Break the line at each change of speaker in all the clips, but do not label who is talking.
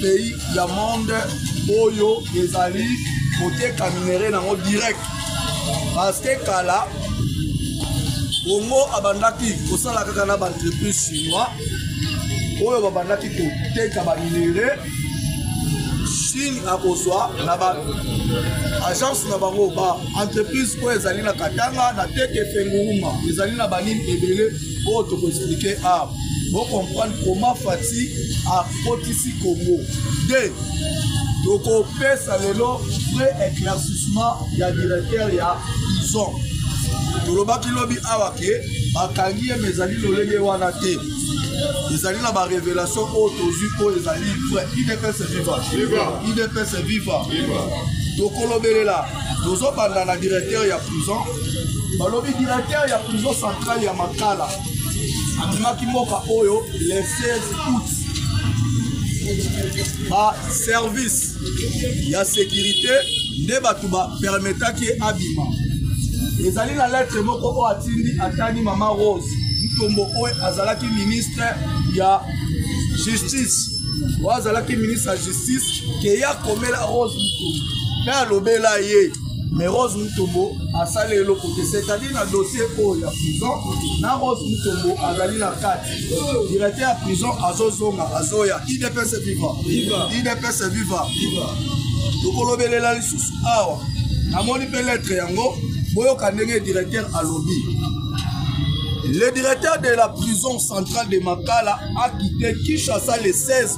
pays ya monde oyo ezali koteka minere nango direct parce que kala congo abandaki kosala kaka na baentreprise chinois oyo babandaki koteka baminere chine akozwa na ba agence na bango ba entreprise oyo ezali na katanga na teke fenguruma ezali na banini ebele oyo toko explike awa bocomprendre comment fati akotisi congo de tokopesa lelo vrai éclaircissement ya directeur ya prison tolobaki lobi awa ke bakangi ye ma ezali lolenge wana te ezali na barévélation oyo tozwi oyo ezali vrai idps viva idps viva tokolobelela tozobanda na directeur ya prison balobi directeur ya prison centrale ya makala abimaki mboka oyo le 16 août baservice ya sécurité nde bato bapermetaki ye abima ezali na lettre moko oyo atindi atani mama rose ntombo oyo azalaki ministre ya justice oyo azalaki ministre ya justice ke ya komela rose mutombo mpe alobela ye mais rose mutombo asali eloko te c'est-à-dire na dossier oyo ya prison na rose mutombo azali na kati directeur ya prison azozonga azoya idps viva idps viva tokolobelela lisusu awa namoni mpe lettre yango boyoka ndenge directeur alobi le directeur de la prison centrale de makala a quitté kinshasa le 16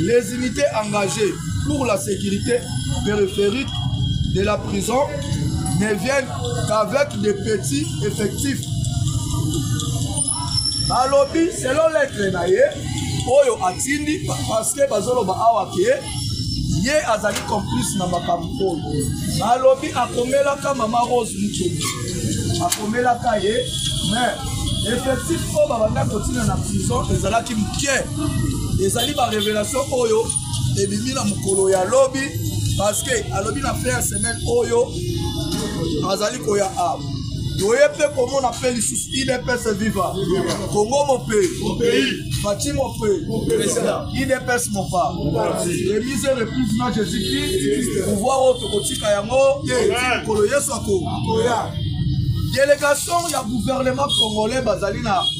Les unités engagées pour la sécurité périphérique de la prison ne viennent qu'avec des petits effectifs. balobi selon lettre na ye oyo atindi parce que bazoloba awa ke ye azali complice na makambo oyo balobi akomelaka mama rose mutoni akomelaka ye mais effectif oyo babanda kotina na prison ezalaki moke ezali barevelation oyo ebimi na mokolo ya lobi parceke alobi na fin ya semaine oyo azali koya a toye mpe komona mpe lisusu idps viva kongo mope bati mope idps mopa remise reprise na jésus christ pouvoir oyo tokotika yango mokolo yesu akoya delegation ya gouvernement congolais bazali na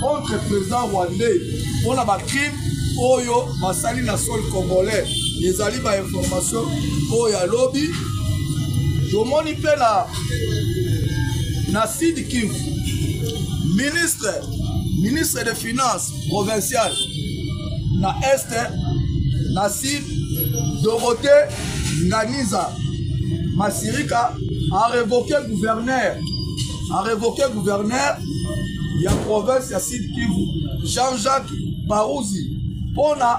contre président rwandais mpo na bacrime oyo basali na sol congolais ezali bainformation oyo ya lobi tomoni mpe na na sud kivu ministre ministre de finance provincial na est na sud dorothée nganiza masirika a revoqué gouverneur a revoquer gouverneur ya province ya sud kivu jean-jacques baruzi mpona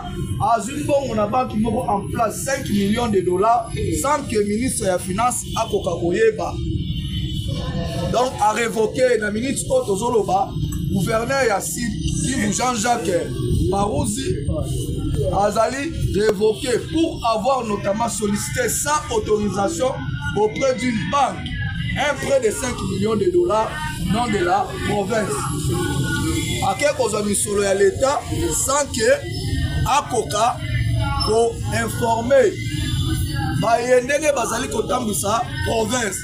azwi mbongo na banki moko en place 5 millions de dollars sans que ministre ya finance akoka koyeba donc a revoquer na minute oyo tozoloba gouverneur ya sud kivu jean-jacques baruzi azali revoqué pour avoir notamment sollicité sans autorisation auprès d'une banque un prêt de 5 millions de dollars non de la province ake kozwa misolo ya leta sans que akoka koinforme baye ndenge bazali kotambwisa province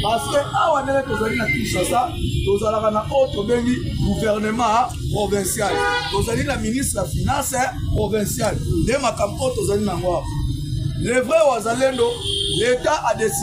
parce que awa ndenge tozali na kinshasa tozalaka na oyo tobengi gouvernement provincial tozali na ministre ya finance provincial nde makambo oyo tozali na yango awa le vrai wazalendo leta adesi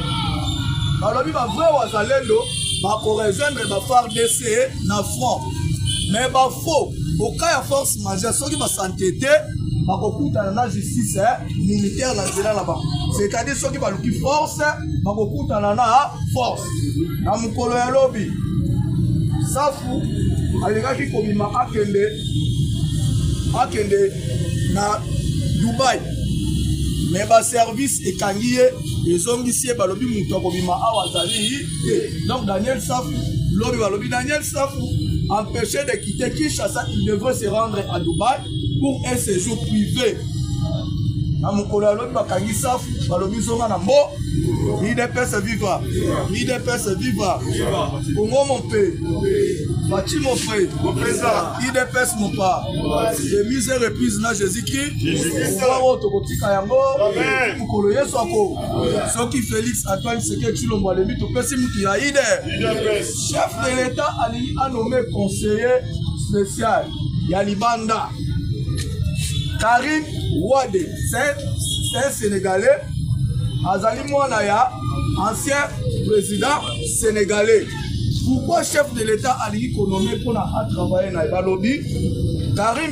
balobi ba vrai wazalendo bakorejoindre ba fardc na front mais bafaux oka ya force majeure soki basante te bakokutana na justice eh, militaire na nzela na bango c'est-à-dire soki baluki force bakokutana na force na mokolo ya lobi safu alingaki kobima akende akende na dubai me baservice ekangi ye ezongisi ye balobi moto akobima awa azali te donc daniel safu lobi balobi daniel safu empêché de quitter kinshasa il devrait se rendre à dubaï pour un séjour privé na mokolo ya lobi bakangi safu balobi zonga na mbo idps viva idps viva kongo mope faci mope idps mopa de mise reprise na jésus oyo tokotika yango mokolo yesu ako soki félix antoine seke cilombo alembi topesi motu ya ide chef de l'état alingi anome conseiller spécial ya libanda karim wade c'est un sénégalais azali mwana ya ancien président sénégalais pourquoi chef de l'état alingi konome mpona atravaille na ye balobi karim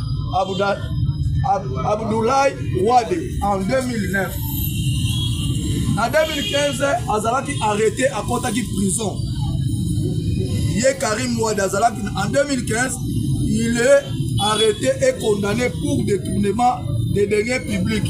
Abda, Ab, Abdoulaye Wade en 2009. Na 2015 azalaki arrêté akotaki prison. Ye Karim Wade azalaki en 2015 il est arrêté et condamné pour détournement des deniers publics.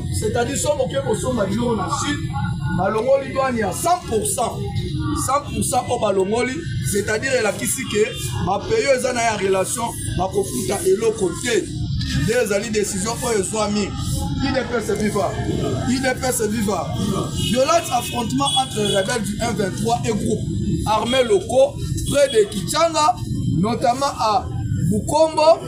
c'est-à-dire soki oke kosomba biloko na chine balongoli douane ya 100 100 oyo balongoli c'est-à-dire elakisi ke bapayi oyo eza na ya relation bakofuta eloko te nde ezali décision oyo ezwami idps viva idps viva violence affrontement entre rebelle du 123 et groupe armé locaux près de kichanga notamment à bukombo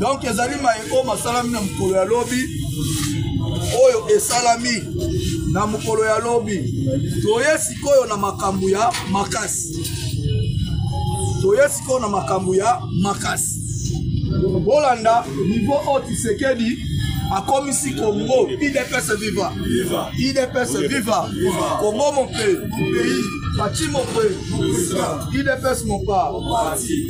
donk ezali maye oyo masalami na mokolo ya lobi oyo esalami na mokolo ya lobi toye sikoyo na makambo ya makasi toye sikoyo na makambo ya makasi bolanda nivo oyo tisekedi akomisi congo idps viva idps viva congo mon pays pays bati mon pays idps mon part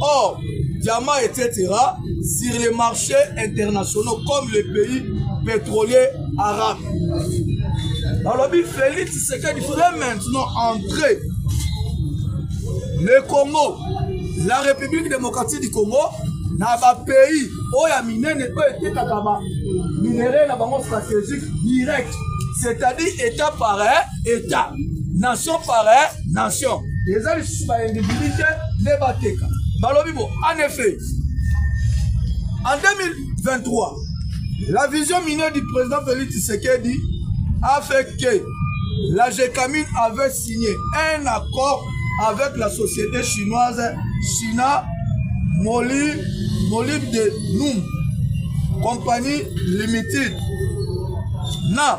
Or, diamants, etc., sur les marchés internationaux comme les pays pétroliers arabes. Alors, Félix Tshisekedi fait maintenant entrer le Congo, la République démocratique du Congo, na bapays oyo ya minene oyo etekaka baminerai na bango stratégique direct c'est-à-dire état par état nation par nation eza lisusu baindividi te nde bateka balobi bo en effet en 2023 la vision minière du président félix tshisekedi a fait que la gecamine avait signé un accord avec la société chinoise china moli molib de noum compagnie limited na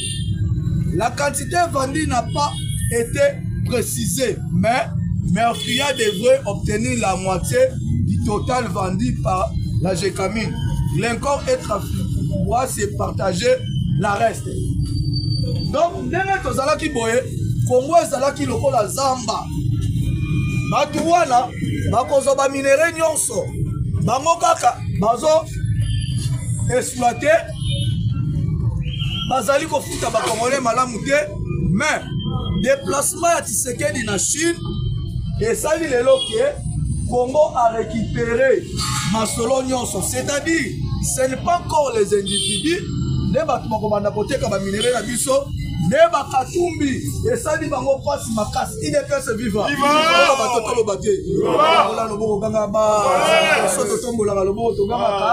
La quantité vendue n'a pas été précisée, mais Mercuria devrait obtenir la moitié du total vendu par la Gécamine. L'incorps et trafic pourra se partager la reste. Donc, ndenge tozalaki boye, Congo ezalaki lokola zamba. Batu wana bakozwa ba minerais nyonso. Bango kaka bazo exploiter bazali kofuta bakongole malamu te mais déplacement ya tisekedi na chine esali lelo ke congo a récupéré masolo nyonso c'est-à-dire ce n'est pas encore les individus nde bato bakobanda koteka baminere na biso nde bakatumbi esali bango mpasi makasi idps viva bato toloba te ola loboko ganga ba soto tombolaka loboko togangaka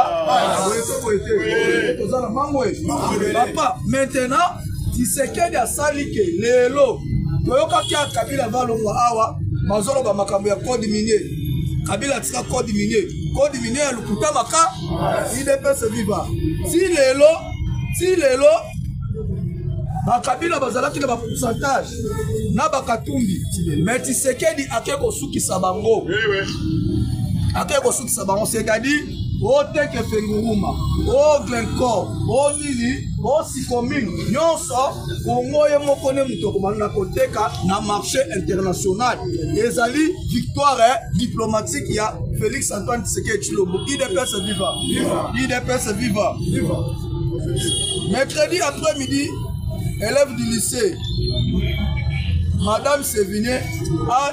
toza na mango papa maintenant tisekedi asali ke lelo toyokaki ya kabila balongwa awa bazoloba makambo ya code minier kabila atika code minier code minier ya lokuta maka idps viva ti lelo ti lelo bakabila bazalaki na bapourcentage na bakatumbi me tisekedi ake kosukisa bango ake kosukisa bango c'est-à-dire oteke fenguruma oglenco onini osikomine nyonso kongo ye moko nde moto okomana na koteka na marché international ezali victoire eh, diplomatique ya félix antoine tshisekedi tshilombo idps viva idps viva mercredi après midi élève du lycée madame sevigné a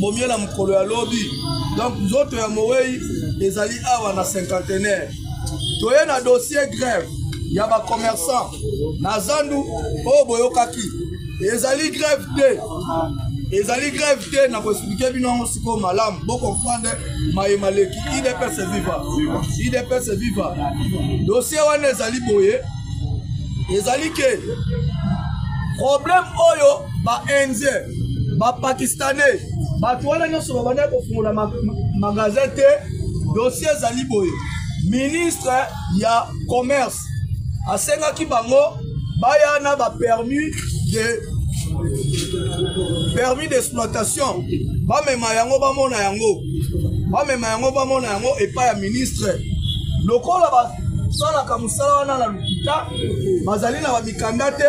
bomi yo na mokolo ya lobi donc nzoto ya mowei ezali awa na cinquantenaire toye na dossier grève ya bacommerçant na zandu oyo boyokaki ezali grève te ezali grève te na koexplike bino yango sikoyo malamu bokomprendre maye maleki idps viva idps viva dossier wana ezali boye ezali ke problème oyo ba indien ba pakistanais bato wana nyonso babandaki kofungola magasin te dossier ezali boye ministre ya commerce asengaki bango baya na bapermis de permis d'exploitation bamema yango bamona yango bamema yango bamona yango epai ya ministre lokola basalaka mosala wana na lokuta bazali na mikanda te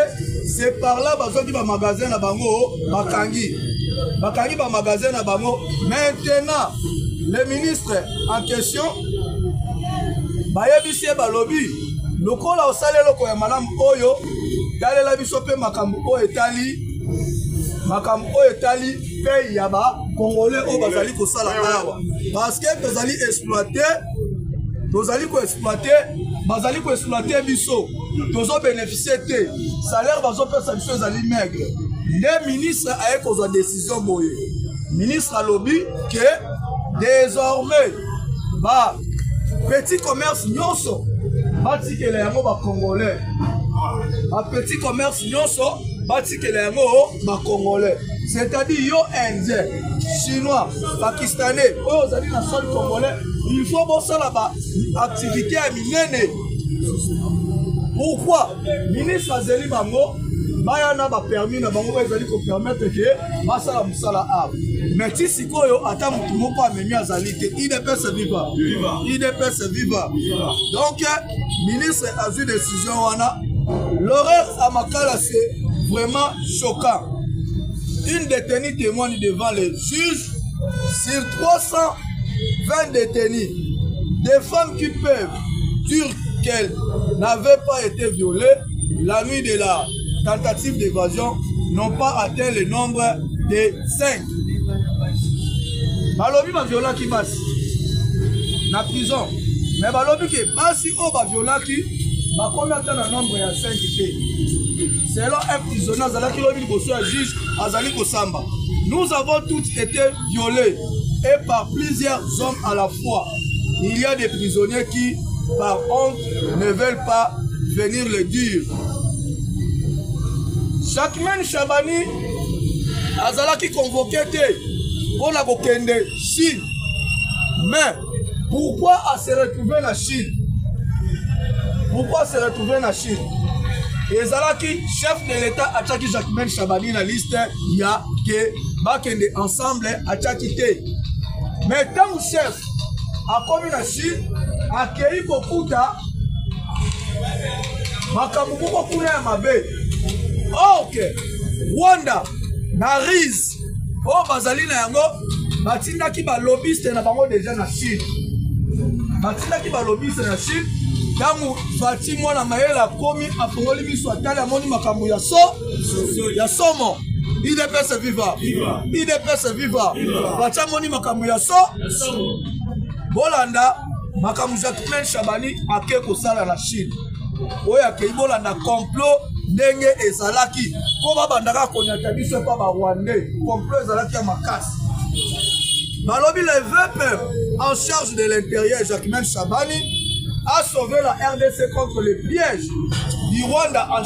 c'est par là bazwaki bamagasin na bango bakangi bakangi bamagasin na bango maintenant le ministre en question bayebisi ye balobi lokola osali eloko ya malamu oyo talela biso mpe makambo oyo etali makambo oyo etali pei ya bacongolais oyo bazali kosala awa parce que tozali exploite tozali koexploite bazali koexploite biso tozo beneficie te salaire bazopesa biso ezali maigre nde ministre aye kozwa décision boye ministre alobi ke désormais ba petit commerce nyonso batikela yango bacongolais ba petit commerce nyonso batikela yango bacongolais c'est-à-dire yo indien chinois pakistanais oyo ozali na sol congolais il faut bosala baactivité ya minene pourquoi ministre azeli bango baya na bapermis na bango oyo ezali kopermettre ke basala mosala awa mais ti sikoyo ata motu moko amemi azali te idps viva idps viva donc ministre azwi décision wana l'horaire à makala c'est vraiment choquant une détenue témoigne devant les juges sur 320 détenus des femmes qui peuvent dire qu'elle n'avait pas été violée la nuit de la tentative d'évasion n'ont pas atteint le nombre de 5. balobi baviolaki basi na prison me balobi ke basi oyo baviolaki bakomi ata na nombre ya 5 te selon un prisonnier azalaki lobi liboso ya juge azali kosamba nous avons toutes été violés et par plusieurs hommes à la Il y a des prisonniers qui, par honte, ne veulent pas venir le dire. Jacquemin Chabani azalaki convoqué te mpo na kokende Chine. Mais pourquoi a se retrouver na Chine? Pourquoi se retrouver na Chine? ezalaki chef de l'État atiaki Jacquemin Chabani na liste ya ke bakende ensemble atiaki te me ntango chef akomi na chine akei kokuta makambo moko kuna ya mabe ok rwanda na rise oyo bazali na yango batindaki balobiste na bango deja na chine batindaki balobiste na chine ntango fati mwana mayele akomi afongoli miso atali amoni makambo ya so ya somo idps viva idps viva batia moni makambo ya so bolanda makambo jacquemain shabani ake kosala na chine oyo akei bolanda complot ndenge ezalaki mpo babandaka konyata biso epa barwandais complot ezalaki ya makasi balobi le vpm en charge de l'intérieur jacquemain shabani a sauvé la rdc contre le piège du rwanda en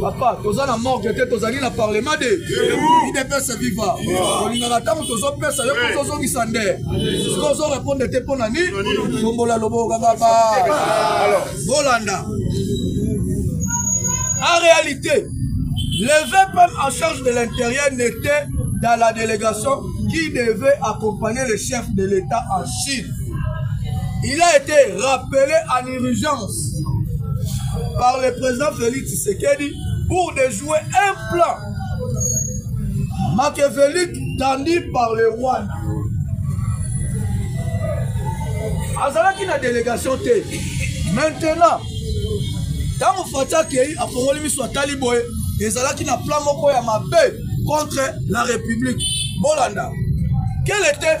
papa toza na morgue te tozali na parlement de idepese viva olingaka ntango tozopesa yo mpo tozongisa nde soki ozorepondre te mpo na nini tombola loboko kaka ba bolanda en réalité le vpm en charge de l'intérieur n'était dans la délégation qui devait accompagner le chef de l'état en chine il a été rappelé en urgence par le président Félix Tshisekedi pour de jouer un plan machiavélique tendu par le Rwanda. azalaki na délégation te maintenant ntango fati akei afongoli miso atali boye ezalaki na plan moko ya mabe contre la république bolanda quel était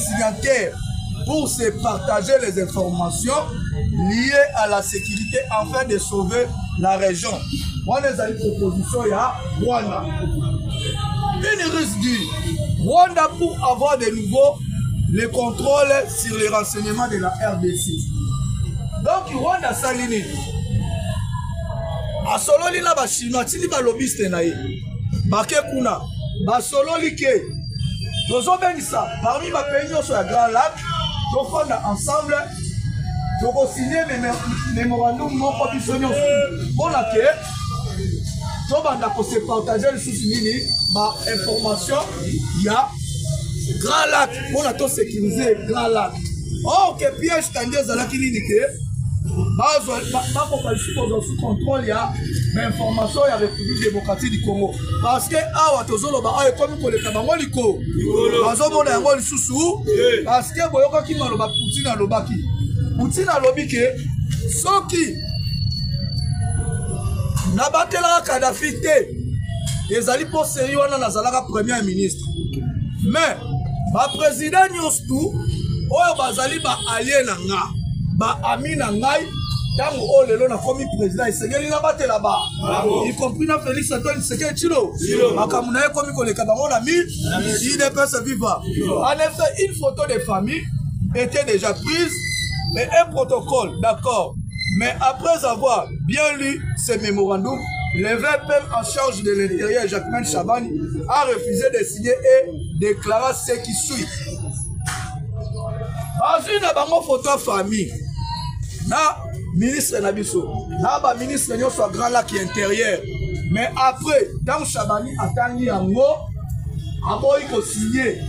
signataires pour se partager les informations liées à la sécurité afin de sauver la région. Wana ezali proposition ya Rwanda. Une russe dit Rwanda pour avoir de nouveau le contrôle sur les renseignements de la RDC. Donc Rwanda asali nini? Asololi na ba Chinois, tindi ba lobbyiste na ye. Bake kuna. basololi ke tozobenisa parmi bapays nyonso ya grand lac tofanda ensemble tokosigne memorandum moko biso nyonso mpona ke tobanda kose partage lisusu nini bainformation ya grand lac mpona tosécurise grand lac or ke piège kandi ezalaki nini ke bakoka lisusu kozwa sous contrôle ya bainformation ya république démocratique du congo parce que awa tozoloba awa ekomi koleka bango likolo bazomona yango lisusu parce que boyokaki maloba poutine alobaki poutine alobi ke soki nabatelaka kadafi te ezali mpo seri wana nazalaka premier ministre mais baprésident nyonso tu oyo bazali baalie na nga baami na ngai ntango oyo lelo nakomi président esengeli nabatela ba y compris na félix antoine seke chilo makambo na ye ekomi koleka bango na mi idps viva en effet une photo de famille était déjà prise et un protocole d'accord mais après avoir bien lu ces mémorandums le VPM en charge de l'intérieur Jacquemin Chabani a refusé de signer et déclara ce qui suit bazwi na bango photo ya famille na ministre na biso na baministre nyonso ya grand lac ya intérieur mais après ntango shabani atangi yango aboyi kosigne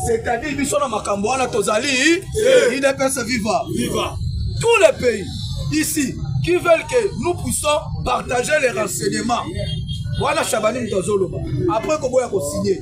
c'est-à-dire biso na makambo wana tozali idps eh. viva tous les pays ici qui veulent que nous puissions partager les renseignements wana shabani moto azoloba après koboya kosigne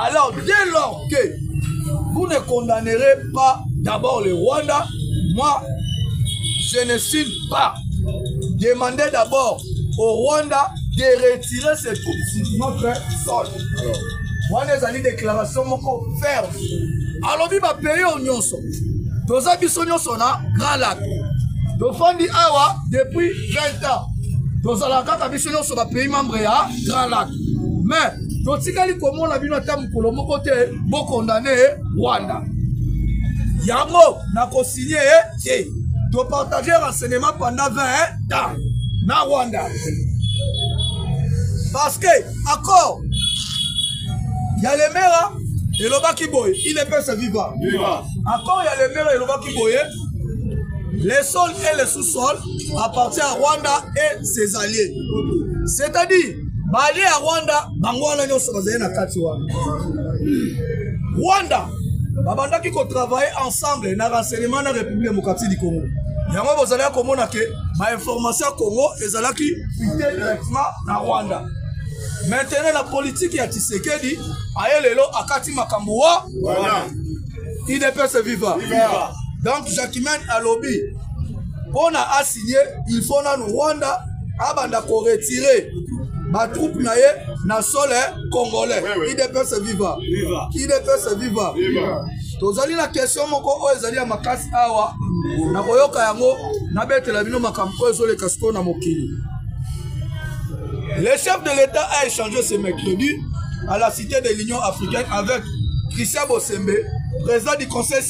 Alors, dès lors que vous ne condamnerez pas d'abord le Rwanda, moi, je ne signe pas. Demandez d'abord au Rwanda de retirer ses troupes sur notre sol. wana ezali déclaration moko ferme alobi bapays oyo nyonso toza biso nyonso na grand lac tofandi awa depuis 20 ans tozalaka kaka biso nyonso bapays membre ya grand lac me totikali komona bino ata mokolo moko te bokondane rwanda yango nakosinye ye te topartage renseignement pendant 20 ans na rwanda parce que accord ya lemera elobaki boye il epesa viva accord ya lemera elobaki boye le sol et le sous-sol appartient à rwanda et ses alliés c'est-à-dire balie ya rwanda bango wana nyonso bazali na kati wana rwanda babandaki kotravaille ensemble na renseignement na république démocratique du congo yango bozalaki komona ke bainformation ya congo ezalaki fite directement na rwanda maintenant na politike ya tisekedi aye lelo akati makambo wa idps viva donc jacquemain alobi mpo na asigne il faut nanu rwanda abanda koretire batroupe na ye na sole congolais idps viva idps viva tozali na question moko oyo ezali ya makasi awa nakoyoka yango nabetela bino makambo oyo ezoleka sikoyo na mokili le chef de l'état a échangé ce mercredi à la cité de l'union africaine avec christian bosembe président du conseil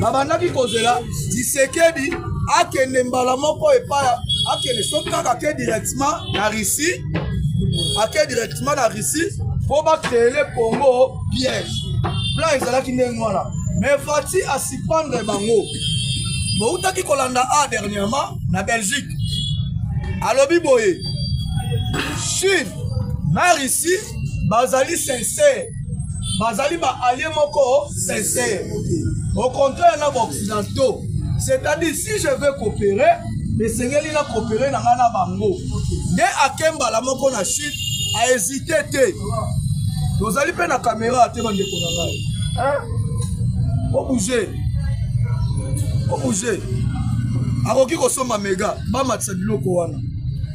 babandaki kozela tisekedi akende mbala moko epai akende soki kaka ake directement na russie ake directement na russie mpo bakreele congo piège plan ezalaki ndenge wana mais fati asipandre bango boutaki kolanda a dernièrement na belgique alobi boye chine na russie bazali sincere bazali baalie moko sincere au contraire na baoccidentaux c'est-à-dire si je veux coopérer esengeli na coopérer na ngai na bango nde ake mbala moko na chute ahésite te tozali mpe na kamera te bandeko na ngai obouge obouge akoki kosomba mega bamatisa biloko wana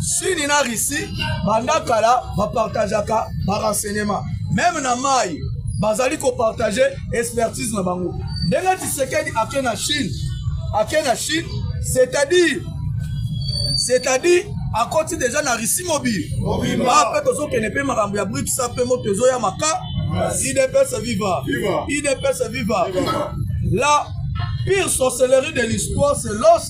sini na russie banda kala bapartageaka barenseignement meme na mai bazali kopartage expertise na bango ndenge tisekedi ake na chine ake na chine c'est-à-dire c'est-à-dire akoti deja na russie mobile ba mpe tozokende mpe makambo ya briksa mpe moto ezoya maka idps viva idps viva la pire sorcellerie de l'histoire c'est lorsque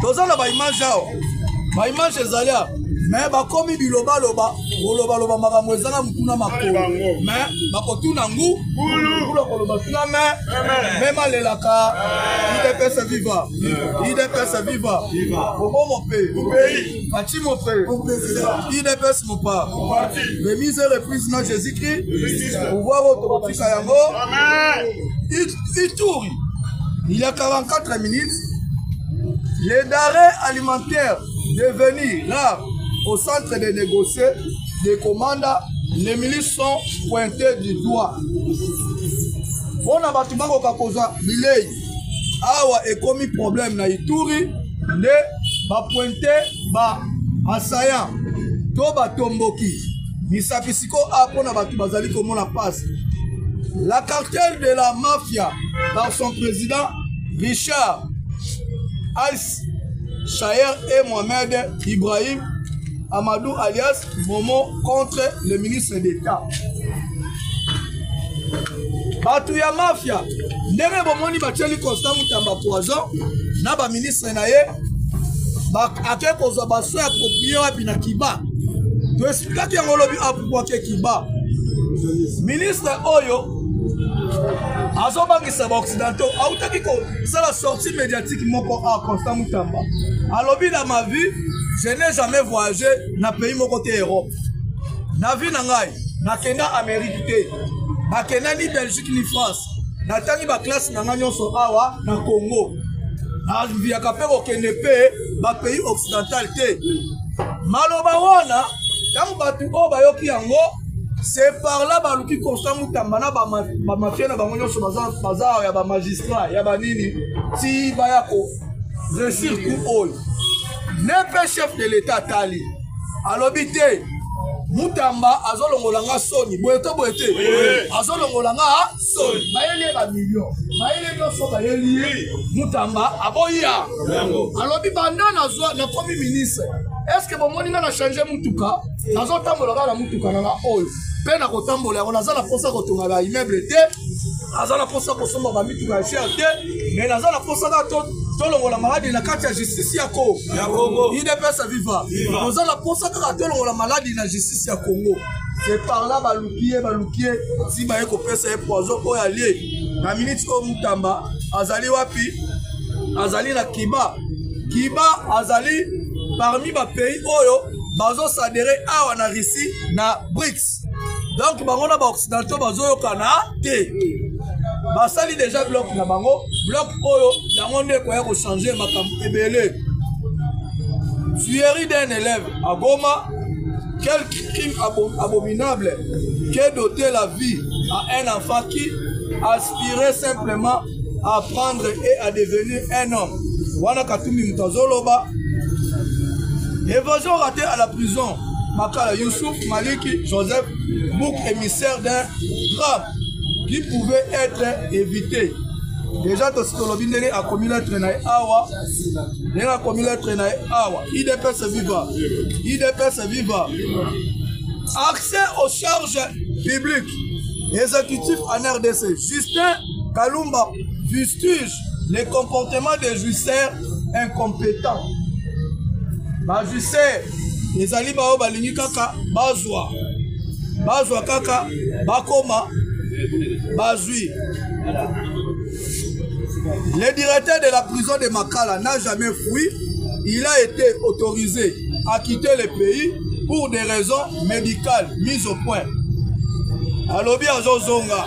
toza na baimage awa baimage ezali awa me bakomi bilobaloba kolobaloba makambo eza na motuna makolo me bakotuna ngu kula koloba tuna me mema lelaka idps viva idps viva bobo mope faci mope idps mopa remise reprise na jésus christ pouvoir oyo tokotika yango ituri Il y a 44 minutes, les denrées alimentaires devenues rares au centre de négocier des commandes, les milices sont pointées du doigt. mpo na bato bakoka kozwa bilei awa ekomi problème na ituri nde bapointe ba assaillant to batomboki misapi ko a mpo na bato bazali komona pasi la cartel de la mafia par son président richard als shayer et mohamed ibrahim amadou alias momo contre le ministre d'état bato ya mafia ndenge bomoni batieli constant mutamba poison na baministre na ye ake kozwa baso ya proprie wapi na kiba to kaki yango olobi apupwake kiba ministre oyo azobangisa baoccidentaux autaki kosala sortie médiatique moko a constant mutamba alobi na ma vie je n'ai jamais voyagé na pays moko te europe na vie na ngai nakenda amérique te nakenda ni belgique ni france natangi baklasse na ngai nyonso awa na congo naviyaka mpe kokende mpe bapays occidental te maloba wana ntango bato oyo bayoki yango se parla baluki constant mutamba na bamafia na bango nyonso baza ya bamagistrat ya banini ti baya ko resir ku oyo ne mpe chef de l'état atali alobi te mutamba azolongola nga soni boye to boye te azolongola nga soni bayeli ye bamilio bayeli nyonso bayeli ye mutamba aboya alobi banda nazwa nakomi ministre estce bomoni nga na change mutuka nazotambola kaka na mutuka na nga oyo mpe nakotambola yango naza na mposa kotonga ba immeuble te aza na mposa kosomba bamituka ya cher te me naza na mposa kaka tolongola maladi na kati ya justice ya congo idps viva toza na mposa kaka tolongola maladi na justice ya congo se parla baluki ye baluki ye si baye kopesa ye poison oyo alie na miniti oyo mutamba azali wapi azali na kiba kiba azali parmi bapays oyo bazosadere awa na russie na brics donc bango na baoccidentaux bazoyokana te basali deja bloc na bango bloc oyo yango nde ekoya kochange makambo ebele tuerie d'un élève à goma quel crime abominable que doter la vie à un enfant qui aspirait simplement à prendre et à devenir un homme wana katumbi moto azoloba évasion raté à la prison makala youssouf maliki joseph book émissaire d'un drame qui pouvait être évité deja tositolobi ndenge akomi letre na ye awa ndenge akomi letre na ye awa idps viva idps viva accès aux charges publiques exécutif en rdc justin Kalumba fustige le comportement des jouisseurs incompétents. Ba jouisseurs ezali baoyo balingi kaka bazwa bazwa kaka bakoma bazwi le directeur de la prison de makala n'a jamais fui il a été autorisé à quitter le pays pour des raisons médicales mises au point alobi azozonga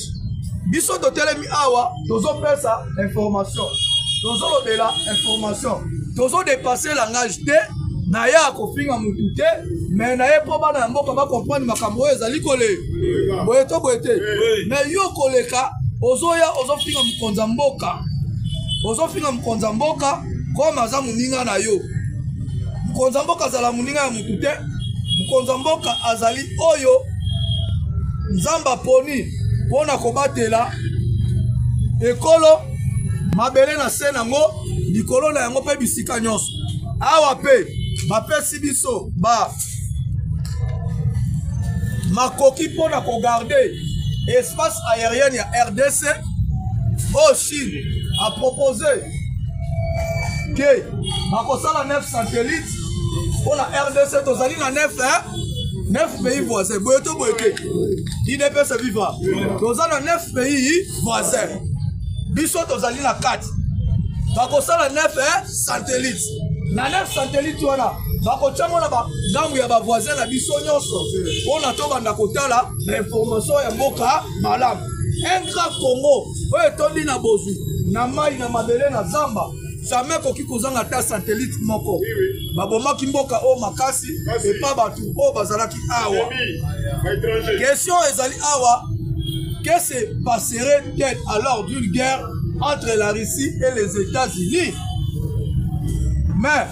biso totelemi awa tozopesa information tozolobela information tozodepasse langage te na ye akofinga motu te me na ye mpo bana ya mboka bakomprendre makambo oyo ezali kole boye to boye te me yo koleka ozoya ozofinga mokonzi ya mboka ozofinga mokonzi ya mboka koma aza moninga na yo mokonzi ya mboka azala moninga ya te mokonzi ya mboka azali oyo nzambe aponi mpo na kobatela ekolo mabele na se nango likolo na yango mpe bisika nyonso awa mpe bapesi biso ba makoki mpo na kogarde espace aérienne ya rdc oyo chine apropose ke bakosala 9 satellite mpo na rdc tozali na nef nef pays voisin boye to boye te idps viva toza na nef pays voisin biso tozali na kati bakosala nef satellite na nef satellite wana bakotyango na bangambo ya bavoisin na biso nyonso mpo na tobanda kotala na information ya mboka malamu un grand congo oyo etondi na bozwi na mai na mabele na zamba jamais akoki kozanga ata satellite moko babomaki mboka oyo makasi epa bato oyo bazalaki awa question ezali awa que se passerait tel alors d'une guerre entre la russie et les états-unis mais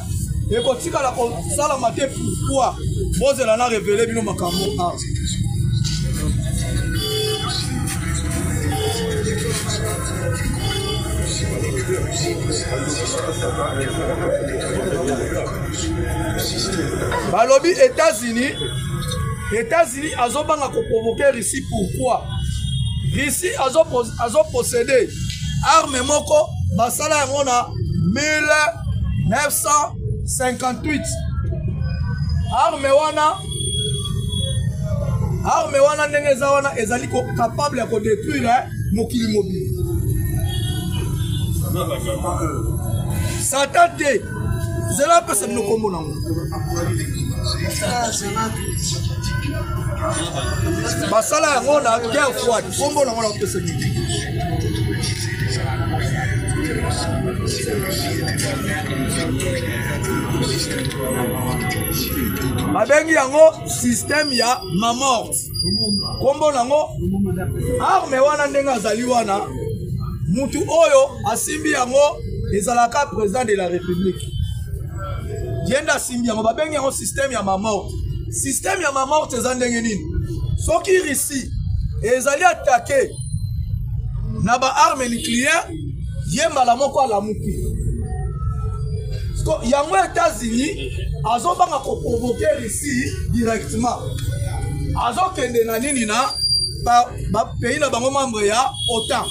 ekotikala kosalama te pourquoi bozela na revele bino makambo awa balobi etats-unis etats-unis azobanga koprovoke russie pourquoi russie azopossede azo arme moko basala yango na 1958 arme wana arme wana ndenge eza wana ezali capable ya kodetruire mokili mobili satan te zela apesa bino nkombo nango basala yango na guerre froide nkombo nango nakopesa nini babengi yango système ya mamort nkombo nango arme wana ndenge azali wana mutu oyo asimbi yango ezalaka président de la république ye nde asimbi yango babengi yango système ya mamorte système ya mamorte eza ndenge nini soki russie ezali atake na baarme nucléaire ye mbala moko alamuki yango etats-unis azobanga koprovoke russie directement azokende na nini na bapays na bango membre ya otan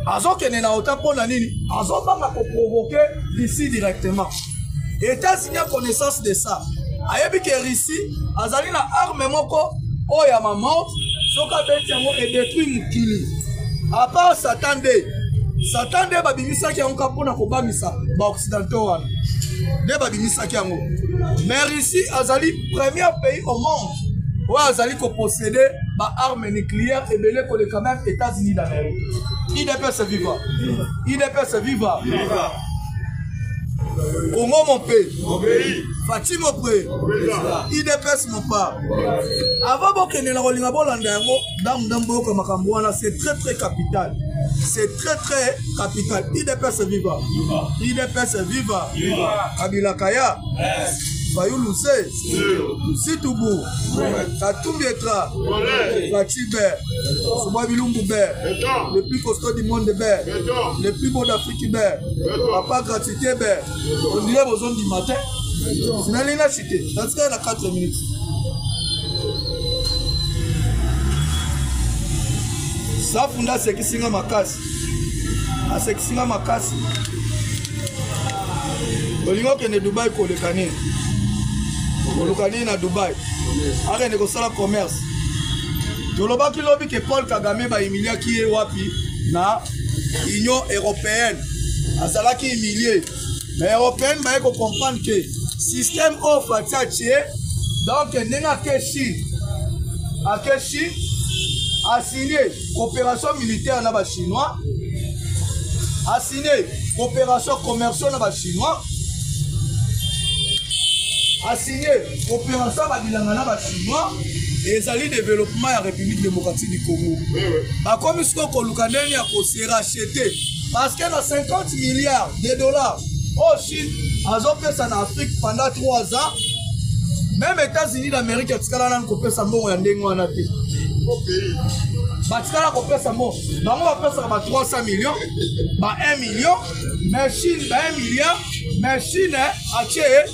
azokende na otan mpo na nini azobanga koprovoke russie directement Etats-Unis a connaissance de ça. Ayebi que Russie azali na arme moko oyo ya ma mort soki abeti yango edetruit mokili. A part Satan nde Satan nde babimisaki yango kaka mpo na kobamisa baoccidentaux wana nde babimisaki yango mais russie azali premier pays au monde oyo azali kopossede baarme nucléaire ebele koleka meme états-unis d'amérique idps viva idps viva Congo mon pays. Mon pays. Fatih mon pays. IDPS mon pas. Avant bokende na kolinga bolanda yango ndamu ndamu boyoka makambo wana c'est très très capital. C'est très très capital. IDPS viva. IDPS viva. Kabila Kaya. Fayulu se. Situbu. Katumbi Etra. Fatih Ber. Soba Bilumbu Ber. Le plus costaud du monde Ber. Le plus beau d'Afrique. kibe papa gratite be ondire bozondima te finali na chute natikali na 4 minutes safu nde asekisi nga makasi asekisi nga makasi olingi okende dubai koleka nini koluka nini na dubai akende kosala commerce tolobaki lobi ke paul kagame bahimiliaki ye wapi na union européenne azalaki humilie mais européenne baye kocomprendre ke système oyo fati atie donc ndenge ake chine ake chine asigne coopération militaire na bachinois asigne coopération commerciaux na bachinois asigne Operation ba bilanga na ba chinois ezali development ya République démocratique du Congo. Bakomi siko koluka ndenge ya ko se racheter parce que na 50 milliards de dollars oyo Chine azopesa na Afrique pendant 3 ans même États-Unis d'Amérique atikala nanu kopesa mbongo ya ndenge wana te. batikala kopesa mo bango bapesaka ba 300 million ba 1 million mais chine ba 1 milliard mais chine atie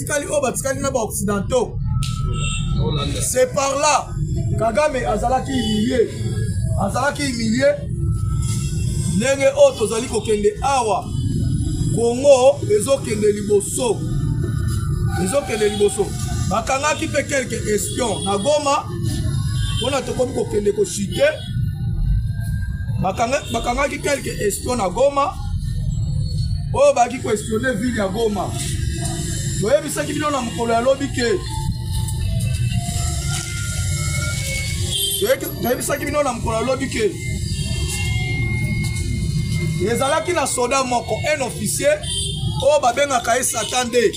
batikali oyo batikali na baoccidentaux c'est par là kagame azalaki humilie azalaki humilie ndenge oyo tozali kokende awa kongo ezokende liboso ezokende liboso bakangaki mpe quelque espion na goma mpona tokomi kokende koshite bakangaki quelque espion na goma oyo baki koespionne ville ya goma toyebisaki bino na mokolo ya lobi ke toyebisaki bino na mokolo ya lobi ke ezalaki na soda moko un officier oyo babengaka ye satan 2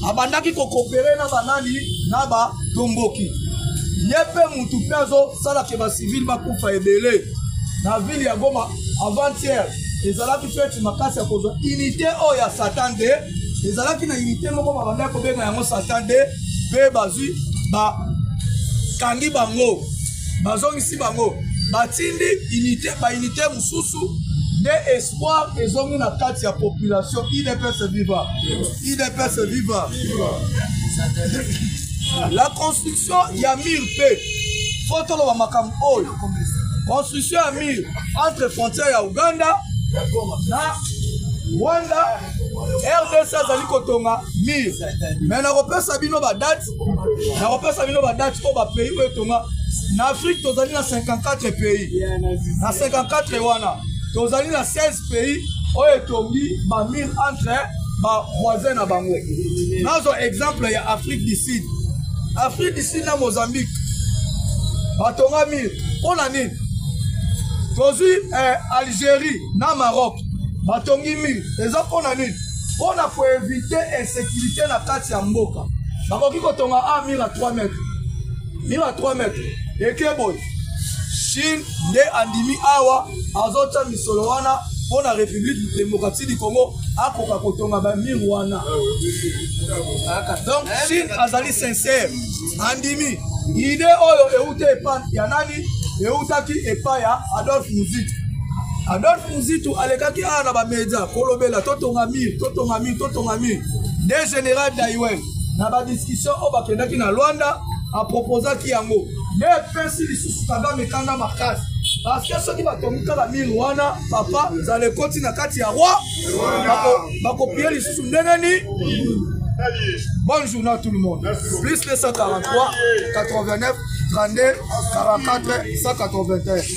abandaki kokopere na banani na batomboki ye mpe motu mpe azosala ke bacivile bakufa ebele na ville ya goma avant-hier ezalaki feti makasi ya kozwa unité oyo ya satan de ezalaki na unité moko babandaki kobenga yango satan de mpe bazwi bakangi bango bazongisi bango batindi unité baunité mosusu nde espoir ezongi na kati ya population idps viva idps viva la construction ya mur mpe fo toloba makambo oyo construction ya mur entre frontière ya uganda na rwanda rdc azali kotonga mur me nakopesa bino badate nakopesa bino badate oyo bapays oyo etonga na afrique tozali na 54 pays na 54 wana tozali na 16 pays oyo etongi bamire entre bavoisin na bango nazwa exemple ya afrique du sud afrique du sud na mozambique batonga mire mpo na nini tozwi eh, algérie na maroc batongi mire eza mpo na nini mpo na koevite insécurité na kati ya mboka bakoki kotonga a ah, mur à 3 mètres mur à 3 mètres eke boye chine nde andimi awa azotya misolo wana mpo na république démocratie du congo akoka kotonga bamir wana donc chine azali sincère andimi ide oyo euta epa ya nani eutaki epa ya adolphe musique adolphe Muzitu alekaki awa na bamedia kolobela totonga mire totonga mire totonga mire de général daiwen na badiscussion oyo bakendaki na lwanda aproposaki yango nde epesi lisusu kagame kanda makasi parceke soki batongi kaka mire wana papa nzala ekoti na kati ya roi bakopiye lisusu ndenge ni Bonne journée à tout le monde. Merci. Plus 243 89 32 44 181.